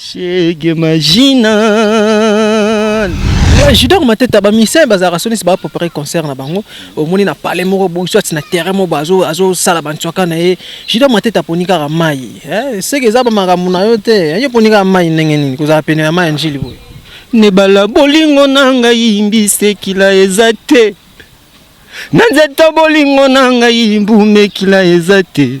Chegue marginal. Eh, Judor Mateta ba musiciens bazalaka soni se ba préparer concert na bango omoni na palais moko boye soit na terrain moko bazo azo sala ba ntwaka na ye Judor Mateta poni kaka mai eh seke eza ba makambo na yo te eh, yo poni kaka mai ndenge nini kozala pene ya mai ya njili boye nebala bolingo na ngai mbisekila eza te na nzeta bolingo na ngai mbumekila eza te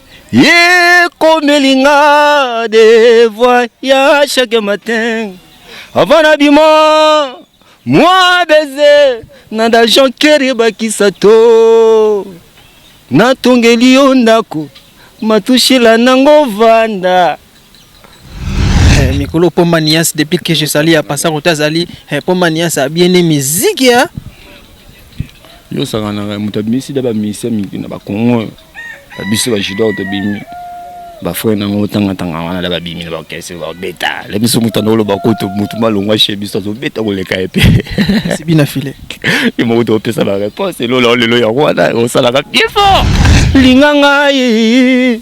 Ye komeli nga de voix ya chaque matin avant na bima mwa baiser na da Jean Kerry bakisa to natongeli yo ndako matushila nango vanda Eh, mikolo pomba nias depuis que je sali ya pasa kota azali eh, pomba nias abiene miziki ya yo osakanaka moto abimisi da bamisia mingi na bakongo oyo babiso bajudor tobimi bafrere nango otangatanga wana da babimi na bakese babeta la biso moto anda oloba kutu motu malongwa she biso azobeta koleka ye mpe sibi na file ye moko toopesa bareponse elola lelo yango wana osalaka bien fort linga ngai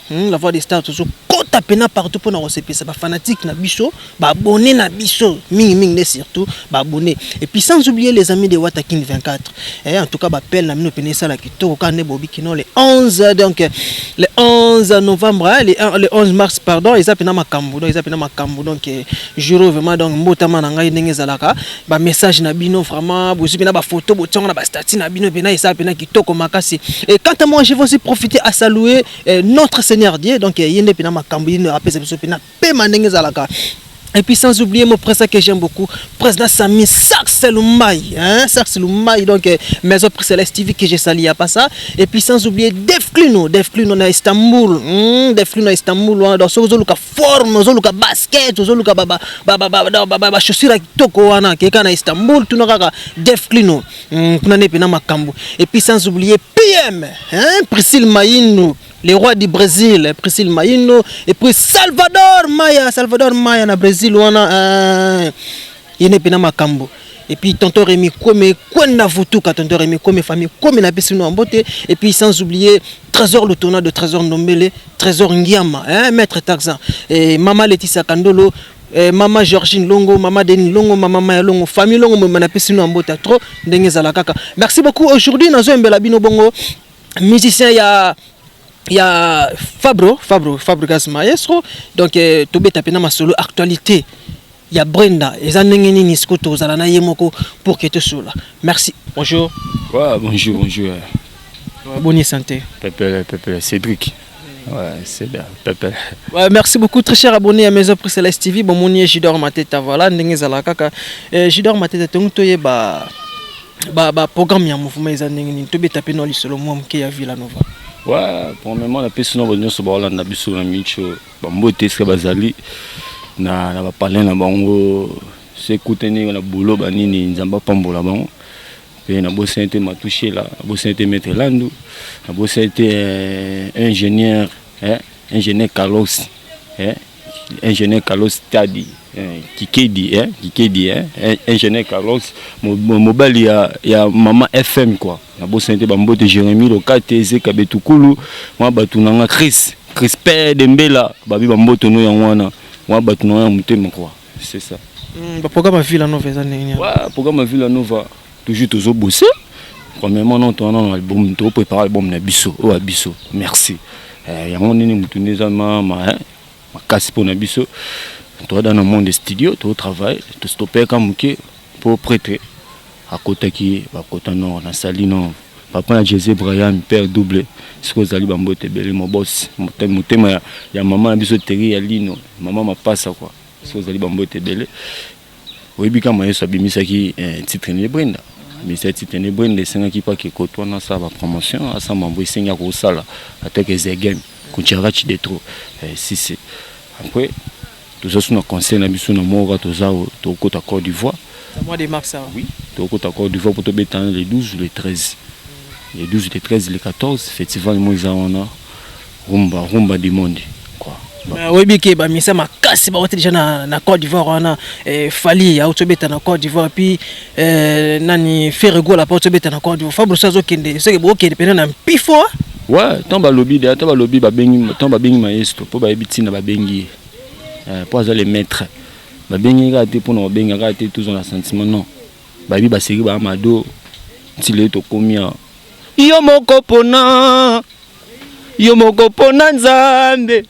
Hum, la voix des stars tozo kota pena partout pona kosepesa ba fanatiques na biso, ba abonnés na biso mingi mingi nde surtout ba abonnés. Et puis sans oublier les amis de Wata King 24. Eh, en tout cas ba pelle na mino pena esala kitoko ka ne bobi kino le 11 donc le 11 novembre hein, le, un- le 11 mars pardon eza pena makambo donc eza pena makambo donc eh, jour oyo vraiment donc mbotama na ngai ndenge ezalaka ba message na bino vraiment bozwi mpena bafoto botiango na bastati na bino mpena esala mpena kitoko makasi et quant à moi je vais aussi profiter à saluer eh, notre seigneur dieu donc eh, ye nde mpena makambo ye apesa biso mpena pema ndenge ezalaka Et puis sans oublier mon président que j'aime beaucoup, président Sami Saxe Lumbaï, hein, Saxe Lumbaï, donc euh, Maison Prix Céleste TV que j'ai sali à pas ça. Et puis sans oublier Def Cluno, Def Cluno à Istanbul, hmm, Def Cluno à Istanbul, hein, dans ce que forme ozoluka basket ozoluka bachaussure ya kitoko wana keka na istanbul tuna kaka def clino hmm, kuna nde mpena makambo epuis sans oublier pm priscile maino le roi du brésil priscile maino epuis salvador maya salvador maya na brésil wana Yene pena makambo. Et puis tonton Rémi Kome, Kwenda Vutuka, tonton Rémi Kome, famille Kome na pesi no mbote. Et puis sans oublier Trésor le tournoi de Trésor Ndombele, Trésor Ngiama, hein, maître Taxan. Et Mama Laetitia Kandolo, eh, mama Georgine Longo, mama Denis Longo, mama Maya Longo, famille Longo mema na pesi no mbota trop ndenge ezala kaka. Merci beaucoup aujourd'hui nazo embela bino bongo musicien ya ya Fabro Fabro Fabregas Maestro donc euh, tobeta pena masolo actualité ya Brenda eza ndenge nini siko tozala na ye moko pour que tosola merci bonjour ouais, bonjour bonjour boni santé pepele pepele Cédric Ouais, c'est bien, Pepe. Ouais, merci beaucoup, très cher abonné à Maison Prix Céleste TV. Bon, mon Jidor Mateta, voilà, Ndenge Zalakaka. Euh, Jidor Mateta, Tongtoye, bah. ba ba programme ya mouvement eza ndenge nini tobeta pe no lisolo mwa moke ya Villa Nova wa premièrement napesi na bato nyonso baolanda biso na micho bambote esika bazali na, na bapalin na bango sekutani na bolo banini nzambe apambola bango mpe nabosani te matushela nabosani te maître landu nabosani te eh, ingénieur eh, ingénieur carlos eh, ingénieur Carlos Tadi eh, Kikedi eh, Kikedi eh, eh ingénieur Carlos mobali ya, ya mama FM quoi na bosani te bambote Jérémie Lokate Zeka Betukulu mwa bato na nga Chris Chris Père Dembela babi bambote no yango wana mwa bato na nga ya motema quoi c'est ça mm, ba programme Villa Nova eza ndenge nini? Ouais, programme Villa Nova Toujours tozo bosser. Premièrement non toana na album to prépare album na biso oyo ya biso. Merci. Eh, yango nini mutu nde eza ma ma hein? makasi mpo na biso toada na monde studio to travail to stopeka moke mpo prêtre akotaki bakota nord na sali nord papa na jese brayami père double soki ozali bambote ebele mobosi motema ya mama na biso teri ya lino mama mapasa kua soki ozali bambote ebele Oyebi kama Yesu abimisaki eh, titre ne Brenda abimisaki titre ne Brenda esengaki pa ke koto wana asala ba promotion asa mambo esengi akosala ata ke zegem kucharachi de trop eh, si si après toza suna conseil na biso na moka toza tokota Côte d'Ivoire mois de mars hein? oui tokota Côte d'Ivoire pour tobeta le 12 le 13 le 12 le 13 le 14 festival moiza wana Rumba, rumba du monde. Euh, oyebi ke bamisa makasi bawati deja na, na Côte d'Ivoire wana eh, Fally auti obeta na Côte d'Ivoire puis eh, nani Ferre Gola mpe auti obeta na Côte d'Ivoire Fabrice azokende soki bokende mpena na mpifo ah. ouais ntango balobi de ata balobi babengi ntango babengi maestro mpo bayebi ntina babengi ye eh, mpo aza le maître babengi ye kaka te mpo na kobenga kaka te tozwa na sentiment non bayebi baseki baa mado ntile tokomi awa Yo moko pona yo moko pona nzambe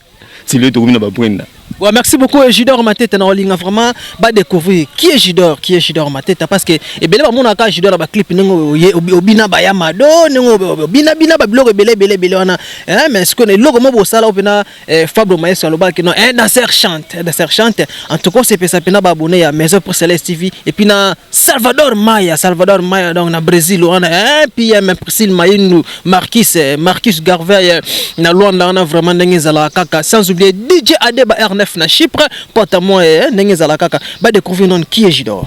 c'est le tokomi na ba brenda Ouais, merci beaucoup Ejidor Mateta na olinga vraiment ba découvrir qui est Jidor qui est Jidor Mateta parce que ebele ba mona ka Jidor ba clip ndenge oye obina ba ya mado ndenge obina bina ba biloko ebele ebele ebele wana hein mais ce que eloko mo bosala opena eh, Fabro Maestro alobaki que non eh, dans cette chante, eh, dans cette chante, en tout cas c'est pesa pena ba abonné à Maison pour Céleste TV et puis na Salvador Maya, Salvador Maya donc na Brésil on a eh, puis eh, même Priscille Mayinu, Marquis eh, Marcus Garvey eh, na Luanda on a vraiment ndenge zala kaka sans oublier DJ Adeba R9 na Chypre, pote moi eh, ndenge zala kaka ba découvrir non qui est Jidor.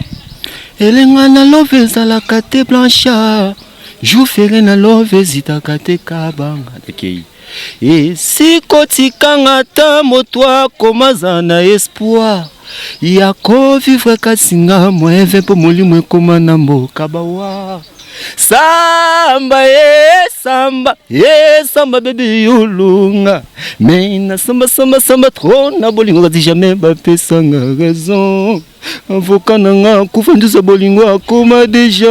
Elenga na love ezalaka te blanchard jour fere na love ezitaka te kabanga tekei okay. Esiko tikanga ta moto akoma za na espoir ya ko vivre kasi nga moeve mpo molimo ekoma na mboka bawa samba ye samba ye samba bebe yolunga me na samba samba samba tro na bolingo kasi jamais bapesanga raison Avocat na nga kofandisa bolingo akoma deja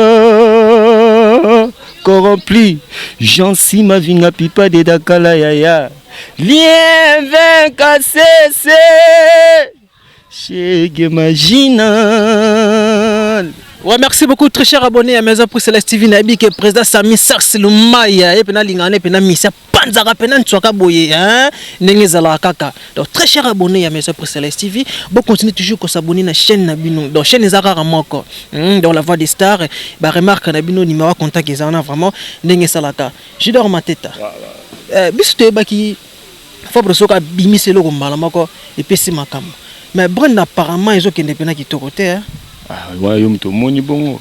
corrompli Jansi mavinga pipa de dakala yaya Lien vin kasese Chegue marginal Ouais, merci beaucoup, très cher abonné à Maison Prix Celeste TV. Nabi que président Sami Sars Lumaya et puis na lingane puis na misa panzaka pena ntswaka boye hein ndenge ezalaka kaka donc très cher abonné ya maison précéleste tv bo continue toujours ko s'abonner na chaîne na bino donc chaîne eza kaka moko hmm, donc la voix des stars ba remarque na bino numéro ya contact eza wana vraiment ndenge esalaka jidor mateta euh, biso toyebaki fabre soki abimisi eloko mbala moko epesi makambo mais brand apparemment ezokende mpena kitoko te hein? ah, yo moto omoni bongo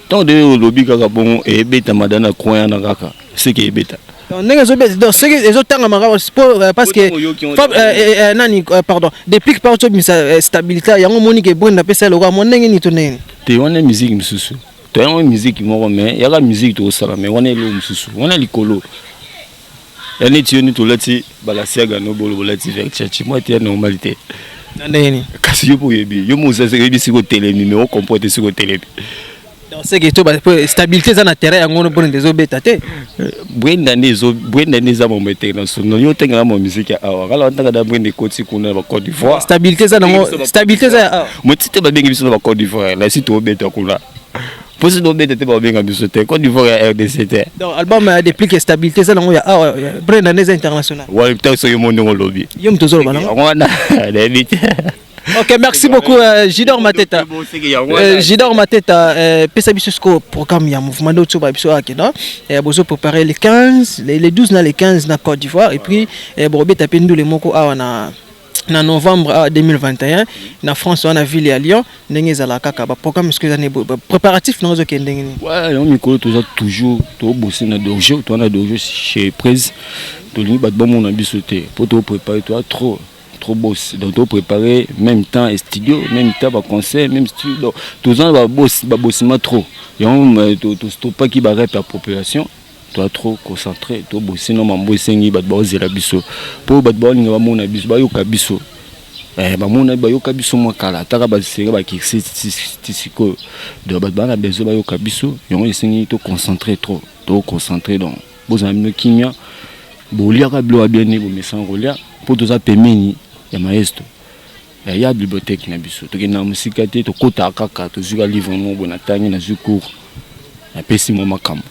Tant de olobi kaka bongo et beta madana coin yana kaka ce qui beta. Donc ndenge zo beta donc ce qui ezo tanga maka euh, parce que Fab, euh, euh, nani euh, pardon depuis que par tu misa euh, stabilité yango moni ke bonda pesa loka mon ndenge ni to ndenge. Te wana musique misusu. To yango musique moko mais yaka musique to sala mais wana elo misusu. Wana likolo. ya neti yo neti olati balasiaga no bolo bolati verchace mwa ete ya normal te na ndenge nini kasi yo mpo oyebi yo mo ozazi oyebi siko otelemi me okompo ete siko otelemi seke to stabilité eza na terrain yango mpona nde ezobeta te eh, brenda nde ezo brenda nde eza mambo international yo otengela ma miziki ya awa kala ntaka da brenda ekoti kuna na ba Côte d'Ivoire stabilité eza nango stabilité eza ya awa motite babengi biso na ba Côte d'Ivoire na si toobeta kuna Posi do beta te ba benga biso te Côte d'Ivoire ya RDC te. Donc album ya déplique stabilité ça nango ya awa ah, euh, brand année international. Ouais, peut-être soyo mondo ngolobi. Yo mtozo loba nango. Yango wana na bite. Ok, merci beaucoup euh, Jidor Mateta. Euh, Jidor Mateta, euh, pesa biso score programme ya mouvement d'auto ba biso ake non. Euh, bozo préparer les 15, les, les 12 na les 15 na Côte d'Ivoire et puis euh, borobeta pe ndule moko awa na na novembre 2021 ah, na France wana ville ya Lyon ndenge ezala kaka ba programme ce que ezana ba préparatif na ozo kende nini ouais yo mikolo toza toujours to bosser na dojo to na dojo chez Prez to lingi bat ba mona biso te po to préparer toi trop trop boss donc to préparer même temps et studio même temps ba concert même studio donc toza ba boss ba bossima trop yango to to stoppaki ba rep ya population toa trop concentre to bosino mambo esengi bato baozela biso mpo bato baolinga bamona biso bayoka biso eh, bamona bayoka biso mwa kala ataka basenge bakirse ti sikoyo donc bato baa na besoin bayoka biso yango esengi to concentre trop to concentre donc bozala bino kimia boliaka bilo ya bien nde bomesana kolia mpo toza pembeni ya maestro eh, ya bibliothèque na biso tokenda na mosika te tokotaka kaka tozwika livre moko boye natangi nazwi cours napesi mwa makambo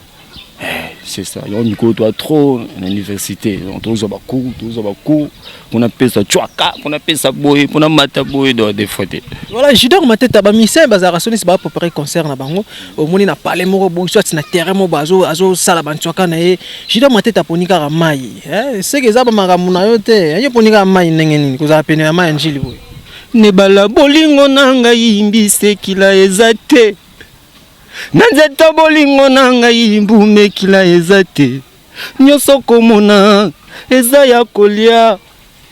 Eh, c'est ça. Yango mikolo toa trop na université. Donc tozwa ba cours, tozwa ba cours. Kuna pesa chwaka, kuna pesa boye, kuna mata boye do des fois te. Voilà, Judor Mateta ba musiciens bazalaka sonisi ba préparer concert na bango. Omoni na palais moko boye soit na terrain moko bazo azo sala ba nchwaka na ye. Judor Mateta poni kaka mai. Eh, seke eza ba makambo na yo te. Ayo poni kaka mai ndenge nini? Kozala pene ya mai ya njili boye. Nebala bolingo na ngai mbisi ekila eza te. Na nzete bolingo na ngai mbumekila eza te nyoso komona eza ya kolia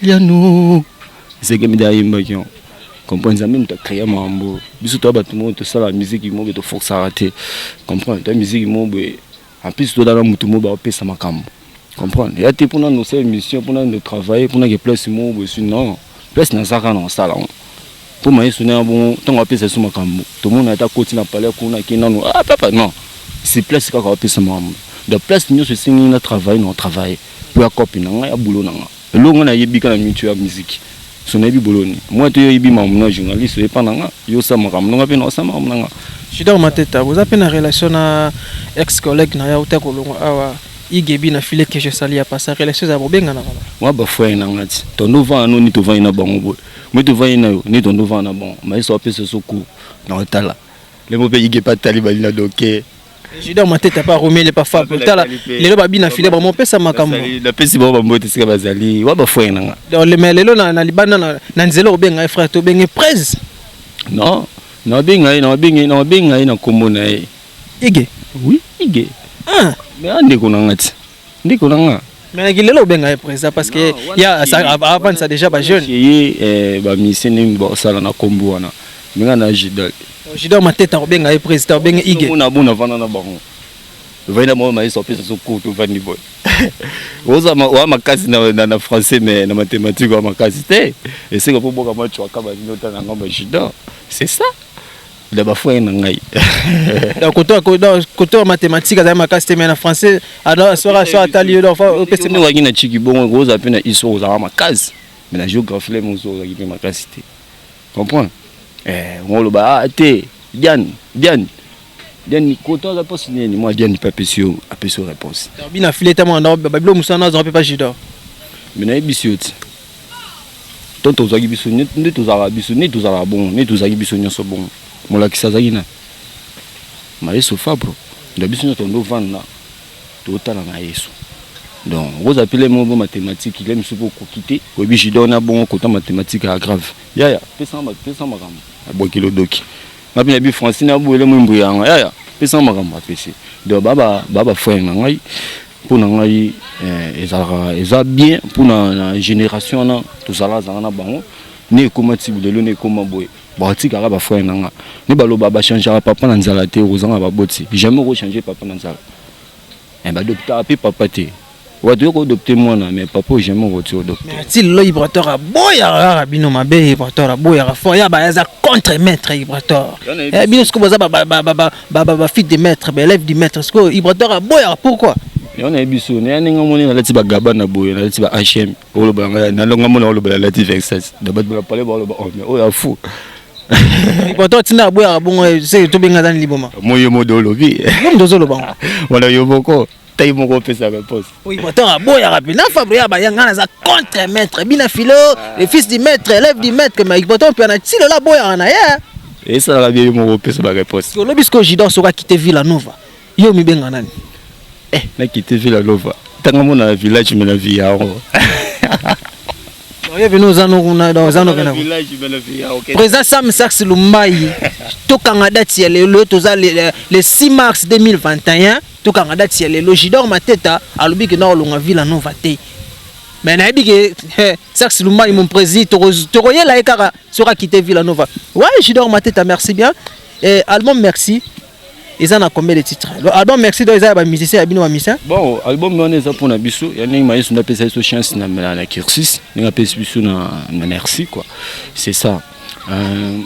liano zeke mida ayimbaki yango comprendre nzambe moto acrea makambo biso toya bato moko tosala miziki moko toforsaka te comprendre toya miziki moko boye En plus toda na mutu mo ba pesa makambo. Comprendre? Ya te pona no sa émission pona no travailler pona ke place mo bo suis non. Place na zaka na sala ngo. Po maye sona ya bongo tango ba pesa su makambo. To mona ata koti na palais kuna ke nanu ah papa non. Si place kaka ba pesa makambo. Donc place nyoso esengi na travailler na travailler. Po ya copie na nga ya boulot na nga. Eloko nga na yebi kaka na mutu ya musique so na yebi boloni moi te yo yebi makambo na journaliste oye pa na nga yo sa makambo na nga pe na sa makambo na nga. Judor Mateta boza pe na relation na ex collègue na ya uta kolongwa awa igebi na filet que je sali ya pasa relation za bobenga na kala. Moi ba frère na nga ti tondo vana no ni to vani na bango boye moi to vani na yo ni tondo vana na bango mais so apesa so cours na otala le mo pe igebi atali bali na doke. Juda Mateta pa Romele pa Fab tala lelo ba bina file ba mopesa makambo na pesi ba mbote sika bazali wa ba frère nanga donc le mais lelo na na libanda na na nzela obenga ye frère to benge prez non na benga ye na benga na benga ye na kombo na ye Ige oui Ige ah mais ande ko nanga ti ndeko na nga mais na kilelo obenga ye président parce que ya avandisa déjà ba jeune ye eh, ba musicien ndenge baosala na kombo wana menga na jidal jidal mateta obenga ye président obenga ige mona bona vanda na bango vanda bango mayeso apesa so kutu vandi boy oza wa makasi na, na, na français mais na mathématique wa makasi te esika po boka machwaka bazinota na ngambo ya jidal c'est ça da ba frère na ngai da koto ko da koto ya mathématique azali makasi te mais na français ada sora so atali yo da fa opese mo waki na chiki bongo ko za pe na iso ko za makasi mais na géographie le mo zo za ki pe makasi te comprendre eh ngolo ba ah, te Diane Diane Diane koto aza pasi nini moi Diane pe apesi yo apesi yo réponse bina fileta mo na babilo musana azo pe pas judo mais na ebisi yo ti to tozalaki biso nde tozalaka biso nde tozalaka bongo nde tozalaki biso nyonso bongo molakisi azalaki na mayeso fabro nda biso nyonso tondo vanda totala na yesu donc okozala mpe lemo bo matematike ile mosusu mpo okoki te oyebi jidor na bongo kota matematike ya grave yaya pesa makambo abwakeli odoki nga mpe nayebi francine aboyele mwimbu yanga yaya pesa makambo apesi donc baba baba frere na ngai mpo na ngai eh, ezalaka eza bien mpo na génération wana tozala azala na bango ne ekoma ti lelo ne ekoma boye batikaka bafrere na nga ne baloba bachangeaka papa na nzala te okozanga baboti jamais okochange papa na nzala eh, badoptaka mpe papa te watu yoko odopte mwana mais papa oyo jamais okoti odopte ti lelo ibrator aboyaka kaka bino mabe ibrator aboyaka fort ya bayaza contre maître ibrator eh, bino sikoyo boza ba ba ba fit de maître ba élève du maître ce que Ibrator aboya pourquoi yo na biso na ndenge moni na lati ba gaba na boye na lati ba HM olo ba ngai na longa mona olo ba lati vexas da ba ba pale ba olo ba oh mais oya fou Ibrator tina aboya bongo c'est to benga dans liboma moyo modo olobi yo ndozo lobango wala yo boko taille moko opesa réponse oui bon tant aboyaka mpe na fabre ya bayanga naza contre maître bina filo ah. le fils du maître élève du maître mais pourtant mpe na tilo la boyaka na ye esalaka bien yo moko opesa ba réponse olobi sikoyo jidor soki akite villa nova yo omibenga nani eh nakite villa nova ntango amona na village me na vie yango oyebi no oza nokuna donc oza nokena président sam sax lumbayi tokanga date ya lelo toza le 6 mars 2021 Tokanga date ya lelo. Jidor Mateta alobi que nao longa Villa Nova te. Mais nayebi que eh, Sax Lumbayi mon président toko toko yela ekaka soka quitter Villa Nova. Ouais, Jidor Mateta merci bien. Et album merci. eza na combien de titres album merci donc eza ya bamusicien ya bino bamisien bon album wana eza mpona biso ya ndenge mayesu nde apesa biso chance na, na, na cursus ndenge apesi biso na, na merci quoi c'est ça euh,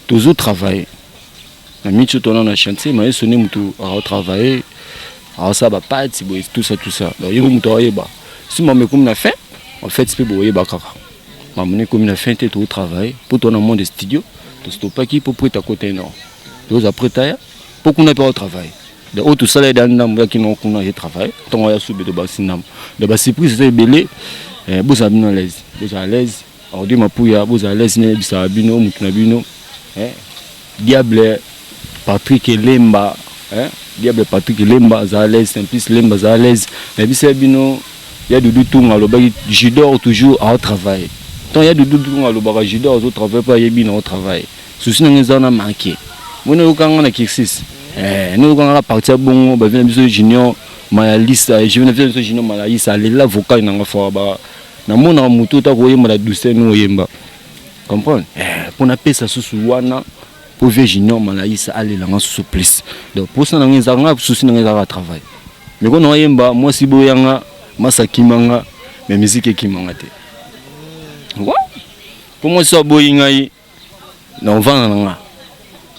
tozo travaille na mitu tona na chantier maestro nde motu aotravaille aosala bapati boye tout ça tout ça donc ye mpe motu aoyeba si mama ekomi na fin en fait mpe boyeba kaka mama na ekomi na fin te tootravaille mpo toa na monde studio tostopaki mpo prete akota enor toza prete aya mpo kuna mpe aotravaille donc oyo tosala ye da ndambo yaki nao kuna ye travaille ntango aya sube tobakisi ndambo donc basurprise eza ebele eh, bozala bino alaise bozala alaise Odi Mapuya boza à l'aise ne bisa bino mutu na bino eh diable Patrick Lemba eh diable Patrick Lemba za à l'aise en plus Lemba za à l'aise mais bisa bino ya Doudou Tunga lobaki Judor toujours à travailler tant ya Doudou Tunga lobaka Judor zo travailler pas yebi na travailler souci na ngeza na manquer moi na yokanga na kirsis eh na yokanga partir bongo ba vient biso junior malalisa je viens biso junior malalisa lela vocal na nga fort ba na mona mutu ta ko yemba na douceur no yemba comprendre eh pona pesa susu wana po vie junior malaisa alela nga susu plus donc posa na nga nga susu na nga ezaka travail mais ko na yemba moi si boya nga masa kimanga mais musique kimanga te wa po moi so boyi ngai na ovanda na nga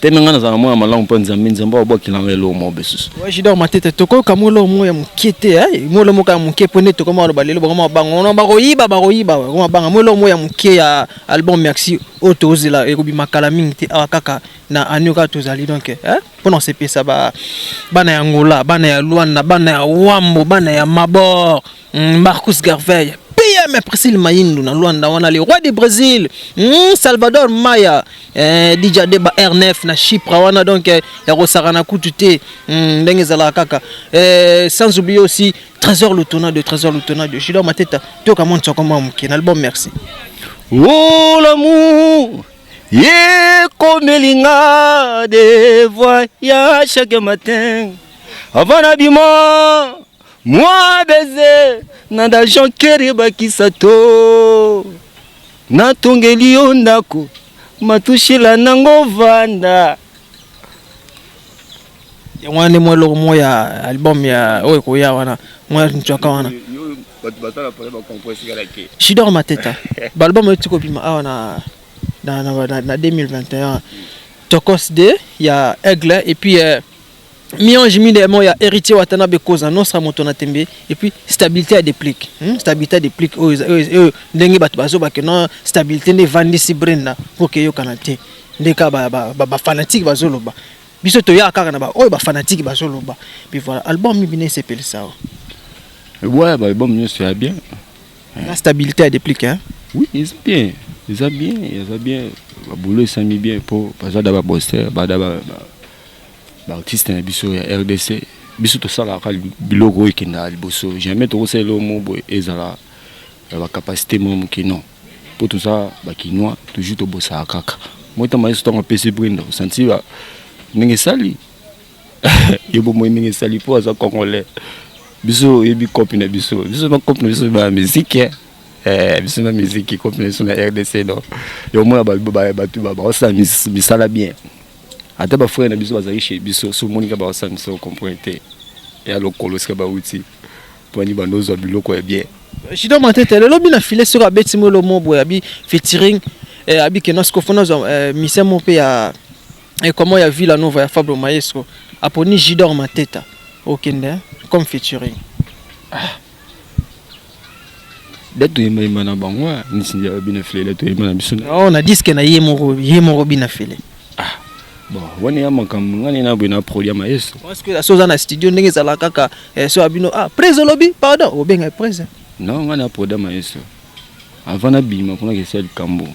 teme nga nazala mwana malamu mpo nzambe nzambe abwakela nga eloko moko besusu jidor matete tokoyoka mwa eloko moko ya moke te eh? mwa eloko moko ya moke mpo nde tokoma aloba lelo bakoma banga wana bakoyiba bakoyiba bakoma banga mwa eloko moko ya moke ya album merci oyo tozela ekobima kala mingi te awa kaka na anio kaka tozali donc eh? mpo na kosepesa bana ya ngola bana ya luanda bana ya wambo bana ya mabor Mm, Marcus Garvey, PM Priscille Maindu na Luanda wana le roi du Brésil, mm, Salvador Maya, eh, Dija Deba R9 na Chypre wana donc eh, ya kosakana kutu te mm, ndenge ezalaka kaka eh, sans oublier aussi Trésor Lutona de Trésor Lutona de Gilles Mateta toyoka mwa nsoko mwa moke na album merci oh l'amour ekomeli nga de voyage chaque matin avant na bima Moi baiser na d'argent kere bakisa to natongeli yo ndako matushila nango vanda yango wana nde mwa eloko moko ya album ya oyo ekoya wana mwa ncwaka wana shidor mateta baalbum oyo tikobima awa na, na, na, na, na 2021 tokos de ya aigle epuis euh, Miange mi demo ya héritier Watanabe koza non sa moto na tembe et puis stabilité à déplique hmm? stabilité à déplique oyo oh, oh, oh, ndenge bato bazoba que non stabilité nde evandisi brenda mpo keyokana te nde kaka bafanatike ba, ba, ba bazoloba biso toyaka kaka na baoyo bafanatike bazoloba puis voilà album mibi na esepelisa ouais baalbum nyonso ya bien la stabilité à déplique hein? oui eza bien eza bien eza bien babulo esami bien mpo baza da baboster bada ba, ba, ba ba artistes na biso ya rdc biso tosalaka biloko oyo ekendaka liboso jamais tokosala eloko moko boye ezala ya bacapacité mwa moke non mpo toza bakinois toujours tobosaka kaka moi ntango yesu ntango apesi brinda osanti ndenge esali ye bomoi ndenge esali mpo aza congolais biso oyebi cope na biso biso na cope na biso ba musique eh, biso na musique cope na biso na rdc no yo omona bato baosala misala bien ata ba frère na biso bazali chez biso so moni ka ba sa biso comprendre te ya lokolo sika ba uti poni ba ndozo biloko ya bien Shido Matete lelo bina filet soki abeti mo lomo boye abi featuring eh, abi ke nasko fona zwa eh, mission mo pe ya eh, comment ya Villa Nova ya Fabro Maestro aponi Jidor Mateta okende hein, comme featuring ah. date toyemba yemba na bango ah, nisinja bina fele date toyemba na biso oh, na disque na ye moko ye moko bina fele ah bon wana ya makambo ngani na boye na produit ya maestro parce que so oza na studio ndenge ezala kaka eh, so abino ah prise olobi pardon obenga prise non ngani na produit ya maestro avant nabima kuna kesi ya likambo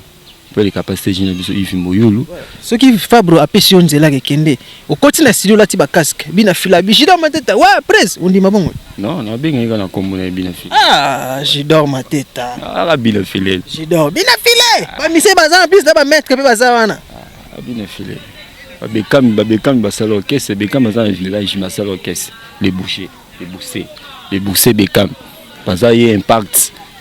Après les capacités jina biso Yves Moyulu. Soki Fabro apesi yo nzela ke kende, okoti na studio lati ba casque, bina fila bi Jidor Mateta. Wa presse, ondima bongo. Non, na benga yeka na kombo na bina fila. Ah, Jidor Mateta. Ah, la bina fila. Jidor bina fila. Ba mise baza na plus na ba maître pe baza wana. Ah, bina fila. Ba bekam ba bekam ba sala orchestre, bekam baza na village, ma sala orchestre, les bouchers, les boussés, les boussés bekam. Baza ye impact.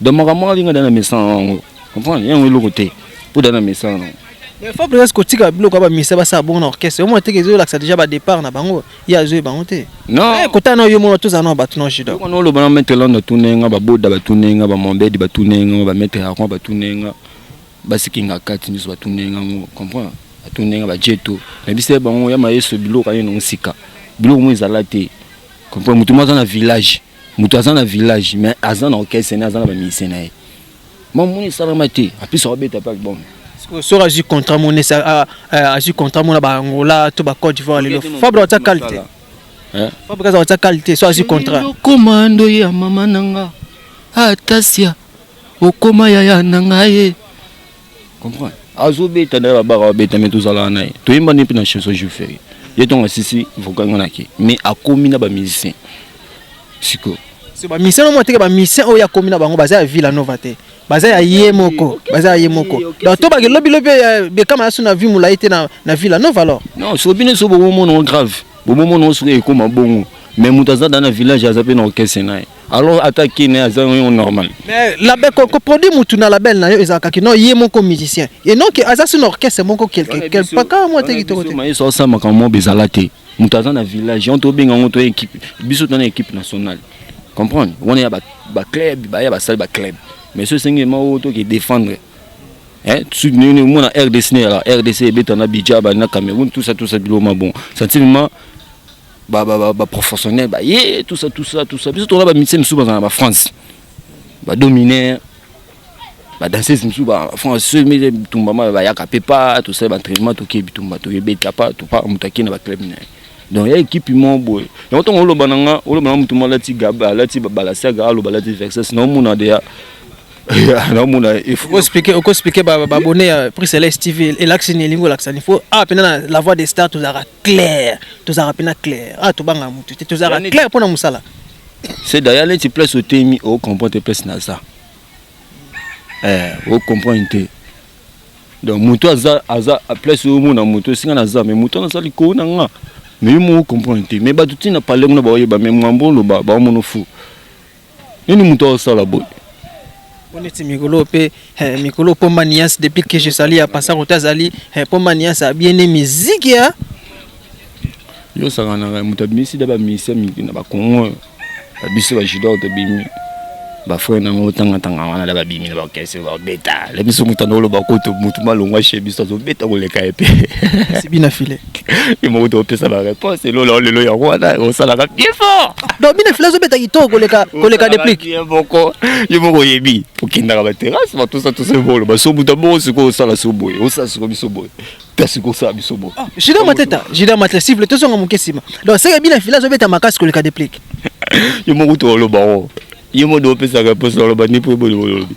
Donc makambo wana linga dana mesana na yango. Comprendre? Yango eloko te. Pour dana mesana na yango. Mais faut presque kotika biloko ya ba misa ba sa bon orchestre. Omo te kezo lakisa déjà ba départ na bango. Ya zo bango te. Non. Eh kota na yo mona toza na bato na jida. Ko no loba na maître Lando tunenga ba boda ba tunenga ba mombedi ba tunenga ba maître Hakon ba tunenga. Ba sikinga kati nyiso ba tunenga ngo. Comprendre? Ba tunenga ba jeto. Na bise bango ya mayeso biloko ayo na musika. Biloko mo ezala te. Comprendre? Mutu mo za na village. moto aza na village mais aza na orchestre ne aza na bamusicien na ye mamoni esalama te apesa babeta mpe album soki azwi contrat mona azwi contrat mona baangola to bacote divoir lelo fabre atia qualité fabre aza atia qualité so azwi contrat okoma ndoyi ya mama na nga atasia okoma yaya na nga ye comprendre azobeta nde babaka babeta me tozalaka na ye toyemba nde mpe na chanson jour ferie ye ntongo asisi vocal nga nake mais akomi na bamusicien sikoyo so bamisien nomo ateke bamisien oyo akomi na bango baza ya villa nova te baza ya ye moko baza ya ye moko donc to bake lobi lobi eh, bekama asu na vie molai te na, na villa nova alors non soki bino so bomomona yango grave bomomona yango soki ekoma bongo mais moto aza da na village aza mpe na orchestre na ye alors ata kin aza yo normal mais label koproduit mutu na label na yo ezalaka kino ye moko musicien et non ke aza sino orchestre moko quelque quelque paka mwa te kitoko te mayeso asala makambo moko ezala te moto aza na village on tobenga yango to équipe biso tona équipe nationale comprendre wana ya baclub baya basali baclub mais so esengi ema oyo toke défendre omona rdc na yala rdc ebeta na bidja bali na cameroun tout ça tout ça biloma bon sentiment ba ba ba, ba professionnels ba ye tout ça tout ça tout ça biso tola ba musiciens misusu bazana ba France ba dominer ba danseuse misusu ba France soki mete bitumba ma bayaka mpe pa tosali ba entraînement toke bitumba toyebeta pa topa moto akei na ba club na ye donc ya ekipe moko boye yango ntango oloba na nga oloba na motu mo alati gab alati balasiaga aloba alati vexes na omona deya naomona okoexplike babone ya prix celeste tv elakisi nini elingi olakisa nini fo awa mpena na la voix de star tozalaka clair tozalaka mpena clair ah tobangaka motu te tozalaka clair mpo na mosala c'est d'ailleurs neti place otemi ocomprend te place naza eh, ocomprendre te donc moto aza aza place omona moto esinga naza mais moto wana aza likolo na nga mais yo moko ocomprendre te mais bato ntina pale kuna baoyeba mais mwambo oloba baomono fou Nini moto azosala boye? oneti mikolo mpe eh, mikolo mpo maniance depuis que je sali ya pasa kota azali mpo eh, maniance abiene miziki ya yo osanganaka moto abimisi da bamisia mingi na bakongo babiso bajudor tobimi bafrere nango otangatanga wana da babimi na bakese babeta le biso moto anda oloba kutu motu malongwa she biso azobeta koleka ye mpe bina file ye moko te opesa ba réponse elola o lelo yango wana osalaka bien fort donc bino filazo beta kitoko koleka koleka deplic ye moko ye moko oyebi okendaka ba terrasse batosa tosa ebolo basobuta bongo sikoyo osala so boye osala sikoyo biso boye kasi kosala biso boye ah, juda mateta juda mateta sivle tozonga moke nsima donc seke bina filazo beta makasi koleka deplic ye moko to oloba ngo ye moko de opesaka mposa oloba nde mpo eboli olobi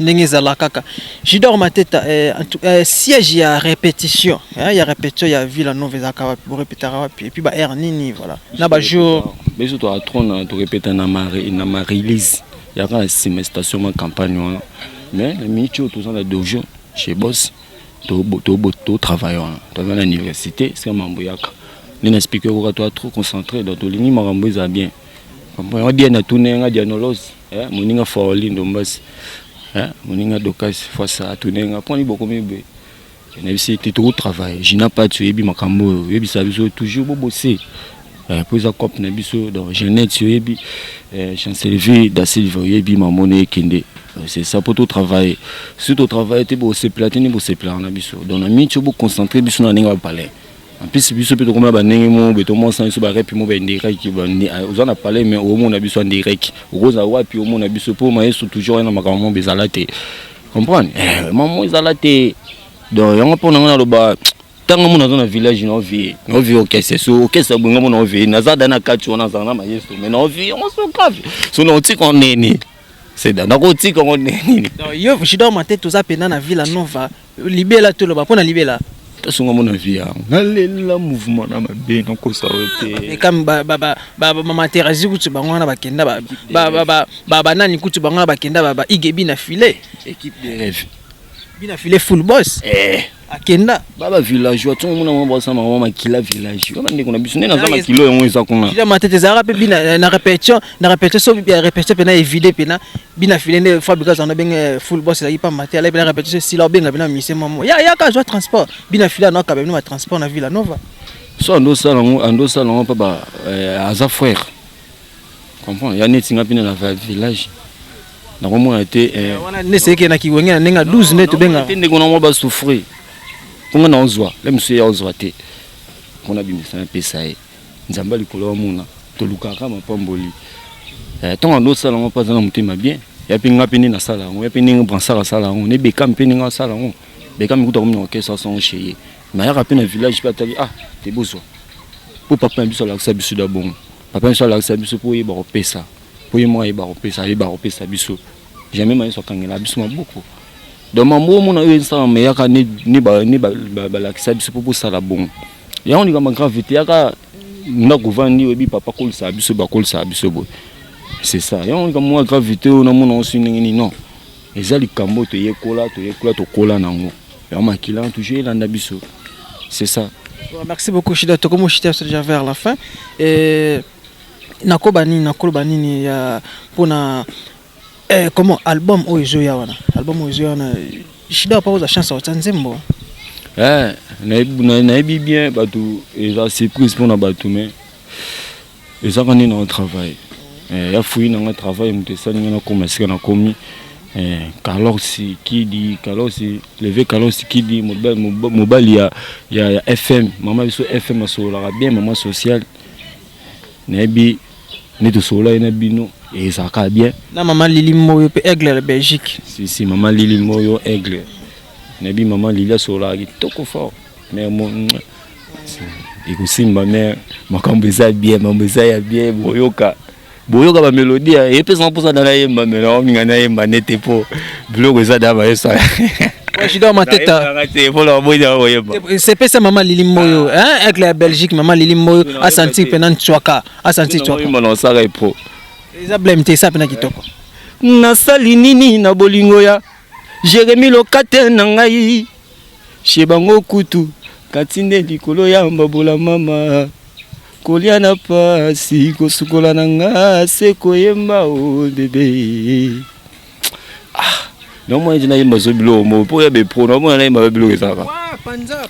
ndenge ezalakaka Jidor Mateta eh, eh, siège ya répétition eh, ya répétition ya Villa Nova ezalaka wapi bo répétaka wapi et puis ba heure nini voilà na ba jour biso to atrona to répéta na mari na ma release ya ka sima station ma campagne wana mais na minute oyo toza na dojo chez boss to to to travail wana toza na université c'est mambo yaka nde na explique okoka to trop concentré donc tolingi makambo ezala bien Nga dia na tuna nga dia nolosi eh moninga faoli ndombasi eh moninga dokasi fasa atuna nga poni bokomi be na bisi te toko travailler jina pati oyebi makambo oyo oyebisa biso toujours bo bosser eh po eza cop na biso donc jeunette oyebi eh chancellerie da silva oyebi mamono ekende c'est ça po to travailler si to travailler te bo se platini bo se plana biso donc na minti bo concentrer biso na ninga ba palais En plus biso pe tokomela banenge mo beto mo sanso ba rep mo ba indirect ba ah, oza na palais mais omo na biso indirect okoza wapi omo na biso po maestro toujours na makambo mo bezala te comprendre eh maman ezala te donc yango pona ngana loba ntango mona aza na village na ovie na ovie okese so okese abonga mona ovie naza da na kati wana azala na mayeso me na ovie yango so grave so na otika nini seda nakotika ngo nini yo shidor mate toza mpena na villa nova libela toloba mpo na libela tosunga mona vie yango nalela mouvement na mabe nakosa yo te kam bamaterasi kutu bango wana bakenda banani kutu bango wana bakenda ba igebi na filet équipe de rêve bina filet full boss eh. akenda baba villageois ntongo mona mwa bwasa mama makila village wana ndeko na biso nde naza makilo yango eza kuna matete ezalaka mpe bina na répétition na répétition so répétition mpe na evide mpe na bina file nde fabrika zana benge full boss ezalaki pamba te alai bina repetition esila obenga bina mise mamo ya yaka azwa transport bina file ano akaba bino batransport na villa nova so andosala yango andosala yango mpe eh, aza frère comprend ya neti nga mpine na village nakomona te eh, eh, wana nde seke na kiwenge na ndenge ya 12 nde tobenga te ndeko nango basouffrir mpo nga naozwa le mosusu ye aozwa te mpo nabimisa napesa ye Nzambe ya likolo amona tolukaka mapamboli eh, ntango ando osala yango mpe aza na motema bien ya mpe nga mpe nde nasala yango ya mpe ndenge bransar asala yango ne beka mpe ndenge asala yango beka mikuta komi na orchestre asango chez ye nayaka mpe na village mpe atali ah te bozwa mpo papa na biso alakisa biso da bongo papa na biso alakisa biso mpo oyeba kopesa mpo ye moko ayeba kopesa ayeba kopesa biso jamais mayeso akangela biso maboko donc mambo omona oyo esalama eyaka ne balakisa biso mpo bosala bongo yango likambo grave te yaka ndako vandi oyebi papa akolisaka biso bakolisaka biso boye c'est ça yango likambo mwa grave te oyo namona osi ndenge nini non eza likambo oyo toyekola toyekola tokola na yango yango makila toujours elanda biso c'est ça merci beaucoup shida tokomi oshita biso déjà vers la fin nakoba nini nakoloba nini ya mpona Eh comment album oyo ezo ya wana album oyo ezo ya wana Shida pa oza chance otia nzembo eh nayebi bien bato eza surprise mpo na bato mais ezaka nde na travail eh, ya fuyi nanga travail moto esali nga nakoma esika nakomi eh, kalosi kidi kalosi leve kalosi kidi mobali ya, ya, ya fm mama biso fm asololaka bien mama sociale Nayebi nde tosololaki na bino ezalaka bien. Na mama Lili Moyo mpe Aigle ya Belgique. Si si mama Lili Moyo Aigle. Nayebi mama Lili asololaka kitoko fort. Mère mo ekosimba mère makambo eza bien, makambo eza ya bien boyoka. Boyoka ba melodie ye mpe eza mposa na nayemba melo ominga nayemba nete mpo biloko eza da bayesa Shida Mateta. C'est pas ça maman Lili Moyo, ah. hein, avec la Belgique maman Lili Moyo a senti penan Tswaka, a senti Tswaka. Mimi non ça repo. Eza blame te ça pena kitoko. Na sali nini na bolingo ya Jérémy Lokate na ngai. Chez bango kutu kati nde likolo ya mbabola mama kolya na pasi kosukola na nga se koyemba o bebe ah naomona ntina yemba zo biloko moko mpo ya bepro naomona nayemba ba biloko ezalaka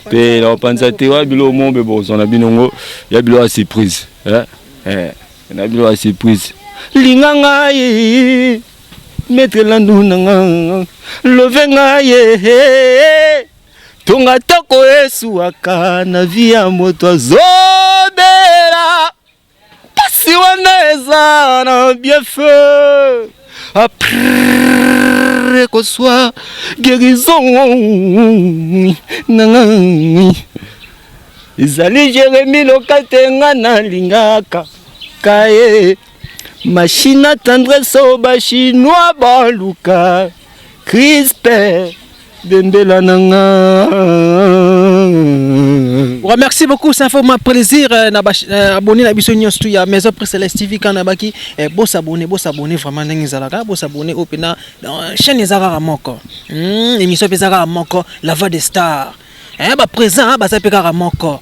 mpe naopanza te wa biloko moko mpe bokozwa na bino ngo ya biloko ya surprise eh, eh, na biloko ya surprise linga ngai metre landu na nga love ngai ye tonga toko esuwaka na vi ya moto azobela Pasi wana eza na bien feu apre kozwa guérison nanga ezali Jeremi Lokate nga nalingaka kaye mashina tendresse oyo bachinois baluka crispe Dendela na nga. Voilà, merci beaucoup, ça fait ma plaisir. euh, na ba- euh, abonné na biso nyonso tout ya Maison Presse Celeste TV quand nabaki eh, bo s'abonner, bo s'abonner vraiment ndenge ezalaka, bo s'abonner au pena euh, chaîne ezalaka kaka moko. Hmm, émission pe ezalaka kaka moko, la voix des stars. Eh ba présent baza pe kaka moko.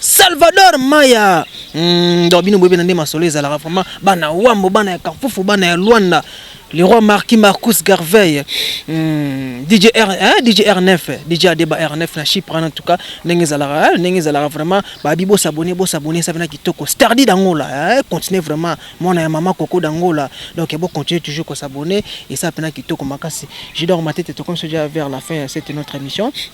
Salvador Maya hmm, donc bino boyebi na nde masolo ezalaka vraiment bana wambo bana ya kampufu bana ya Luanda le roi Marquis Marcus Garvey hmm, DJ R hein, DJ R9 DJ Adeba R9 na Chypre en tout cas ndenge ezalaka ndenge ezalaka vraiment ba bibo s'abonner bo s'abonner ça vient kitoko Stardy d'Angola hein, continuer vraiment mwana ya maman Coco d'Angola donc bon continuer toujours ko s'abonner et ça pena kitoko makasi je dors ma tête comme ça vers la fin c'est notre émission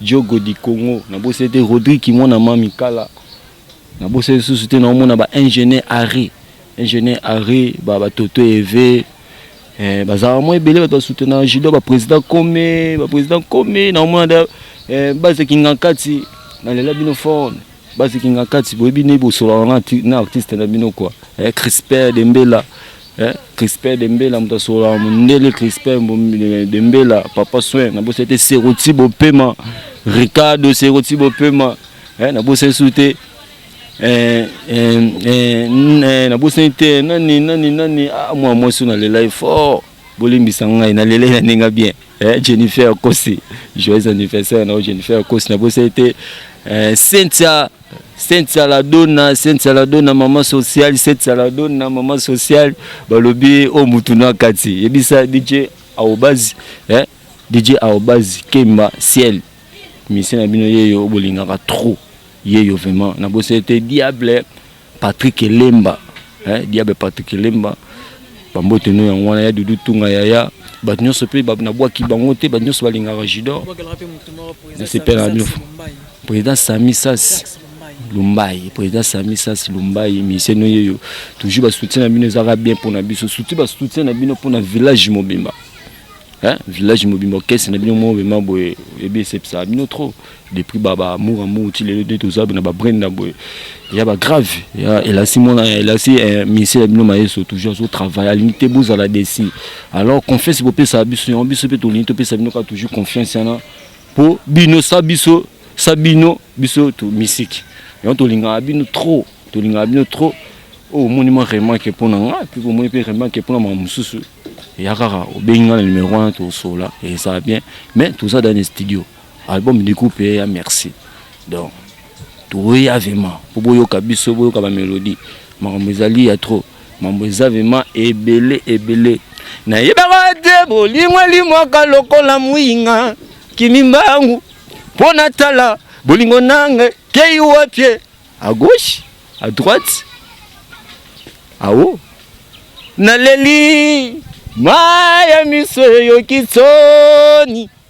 Djogo du Congo na bosa te Rodrigue kimona ma mikala na bosa lisusu te na omona ba ingénieur arrêt ingénieur arrêt ba ba toto eve eh, bazalaka mwa ebele bato basutenaka judo baprésident kome baprésident kome na omona da eh, baza kingankati nalela bino fone Basi Kingakati, boyebi nde bosolaka na, na artiste na bino quoi. Eh, Crispin Dembela. Eh, Crispin Dembela moto asololaka mondele Crispin Dembela, papa soin, na bosa te Seroti Bopema, Ricardo Seroti Bopema. Eh, na bosa su te eh, eh, eh, eh, na bosa te nani nani nani ah, mwa mwasi na lelai fort. bolimbisa ngai na lele na ninga bien eh, Jennifer Kosi joyeux anniversaire na Jennifer Kosi na bosa ete eh, Cynthia Cynthia la donna Cynthia la donna maman sociale Cynthia la donna maman sociale balobi o oh, mutu na kati yebisa DJ aobazi eh, DJ aobazi Kemba ciel mission na bino yeyo bolingaka trop yeyo vraiment na bosa ete diable Patrick Elemba eh, diable Patrick Elemba bambote no yango wana ya dudu tunga yaya bato nyonso mpe nabwaki bango te bato nyonso balingaka judor nasepela na bino président sami sasi lumbai président sami sasi lumbai misien no yeyo toujours basoutien na bino ezalaka bien mpo na biso surtout basoutien na bino mpo na village mobimba village mobimba orchestre na bino mobimba boye ebi esepesaka bino trop Depuis ba ba amour amour ti lelo nde toza na ba brenda boye ya ba grave ya elasi mwana ya elasi eh, misie ya bino mayeso toujours azo travail alingi te bozala desi alors confiance bopesa biso yango biso mpe tolingi topesa bino kaka toujours confiance yana mpo bino sa biso sa bino biso to misiki yango tolingaka bino trop tolingaka bino trop oyo oh, omoni mwa remarke mpo na nga mpe omoni mpe remarke mpo na mwa mosusu eya kaka obengi nga na numero wana tosola eza bien mais toza dans le studio Album du coup pe ya merci. Donc toya vraiment po boyoka biso boyoka ba melodie makambo ezali ya trop mambo eza vraiment ebele ebele nayebaka te bolingo elimwaka lokola mwinga kimimbangu mpo natala bolingo nange kei wapie à gauche à droite awo naleli maya miso eyoki soni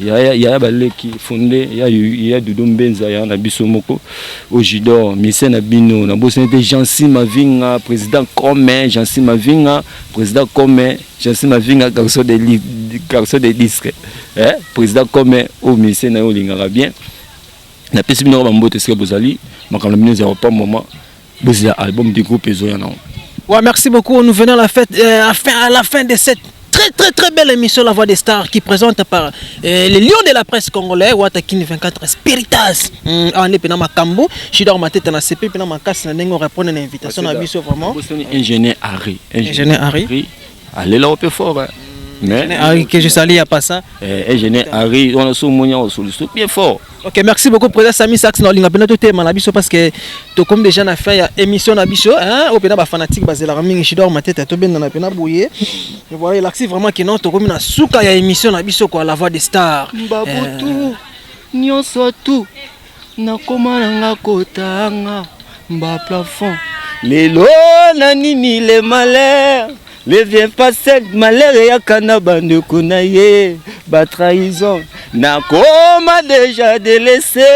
yaya yaya baleki fonde ya ya dodo mbenza ya na biso moko au judor mise na bino na bosani te jansi mavinga président comme jansi mavinga président comme jansi mavinga garçon de garçon de disque eh président comme au mise na yo olingaka bien napesi bino ba mbote esika bozali makambo na bino ezala pa moment Buzz ya album du groupe ezoya na. Ouais, merci beaucoup. Nous venons à la fête, euh, à, fin, à la fin de cette très très très belle émission La Voix des Stars qui présente par euh, les lions de la presse congolais Watakin 24 Spiritas mm, en epena makambo Chidor Mateta na CP pena makasi na ndenge répondre à l'invitation na biso vraiment ingénieur Harry ingénieur Harry alela ope fort hein. mais Eugène Henry que je salue à part ça eh, Eugène Henry on a sous monia au sous bien fort Ok, merci beaucoup président Sami Sax na olinga pena to tema na biso parce que to comme déjà na fin ya émission na biso hein au pena ba fanatique ba zela mingi chidor ma tête to benda na pena boyer et voilà il acte vraiment que non to comme na suka ya émission na biso quoi la voix des stars Babutu, eh. nionso tout Nakoma na nga kotanga mba plafond lelo na nini le malheur ne vient pas seul malheur eyaka na bandeko na ye batrahison nakoma deja delese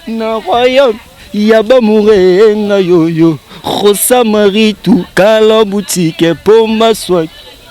na royaume ya bamoure nga yoyo rosa maritu kala butike mpo maswaki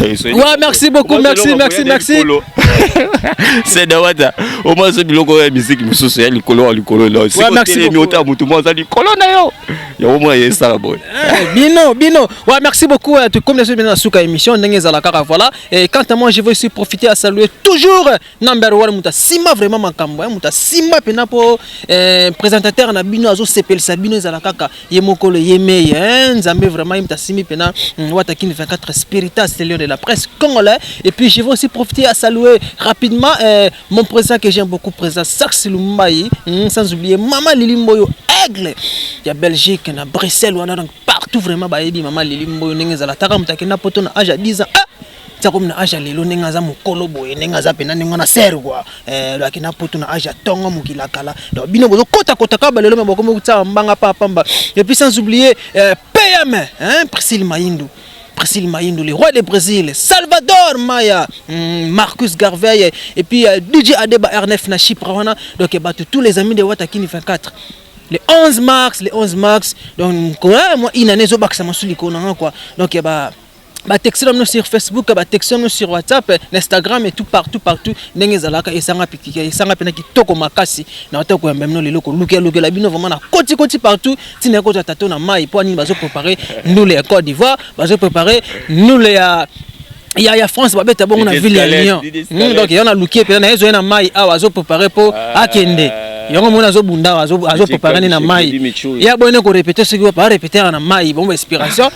Ouais, merci beaucoup, merci, merci, merci. C'est Dawata. Au moins, c'est biloko ya musique mususu ya likolo ya likolo là. C'est ouais, merci beaucoup. Mota mutu mo za likolo na yo. Ya au moins yesa la boy. Eh, bino, bino. Ouais, merci beaucoup. Tout comme les autres, bien la suka émission, ndenge za la kaka voilà. Et quant à moi, je veux aussi profiter à saluer toujours na mbero wana moto asimba vraiment makambo moto asimba mpena mpo eh, présentateur na bino azosepelisa bino ezala kaka ye mokolo ye mei eh, nzambe vraiment ye moto asimbi mpena mm, watakini 24 spiritas lion de la presse congolais et puis je vais aussi profiter à saluer rapidement eh, mon président que j'aime beaucoup président sax lumbayi mm, sans oublier mama lili mboyo aigle ya belgique na bruxelles wana donc partout vraiment bayebi mama lili mboyo ndenge ezalataka moto akenda poto na age ya 10 ans ah! tia komi na age ya lelo ndenge aza mokolo boye ndenge aza mpena ndenge wana ser kua eh, laki na putu na age ya ntongo mokili ya kala donc bino bozokotakota kaka balelo me bakomi kotia mbanga pa pamba epuis sans oublier eh, pm prisile mayindu Brésil Mayindo, le roi de Brésil, Salvador Maya, hmm, Marcus Garvey, et puis euh, DJ Adeba R9 na Chypre, donc eh, battu tous les amis de Watakini 24. Le 11 mars, le 11 mars, donc, moi, une année, je suis en train de quoi. Donc, eh, bah, ba texte no sur Facebook ba texte no sur WhatsApp na Instagram et tout partout partout ndenge ezalaka esanga pikika esanga pena kitoko makasi na wata ko yamba mino lelo ko lukia lukia la bino vraiment na koti koti partout tina ko tato na mai po nini bazo préparer ndule ya Côte d'Ivoire bazo préparer ndule ya ya ya France babeta bongo na ville ya Lyon hmm, donc yana lukie pena na ezo na mai awa azo préparer po ah. akende ah. yango mona azobunda azopepaka nde na mai ye aboyene korepete soki barepetere na mai bomba inspiration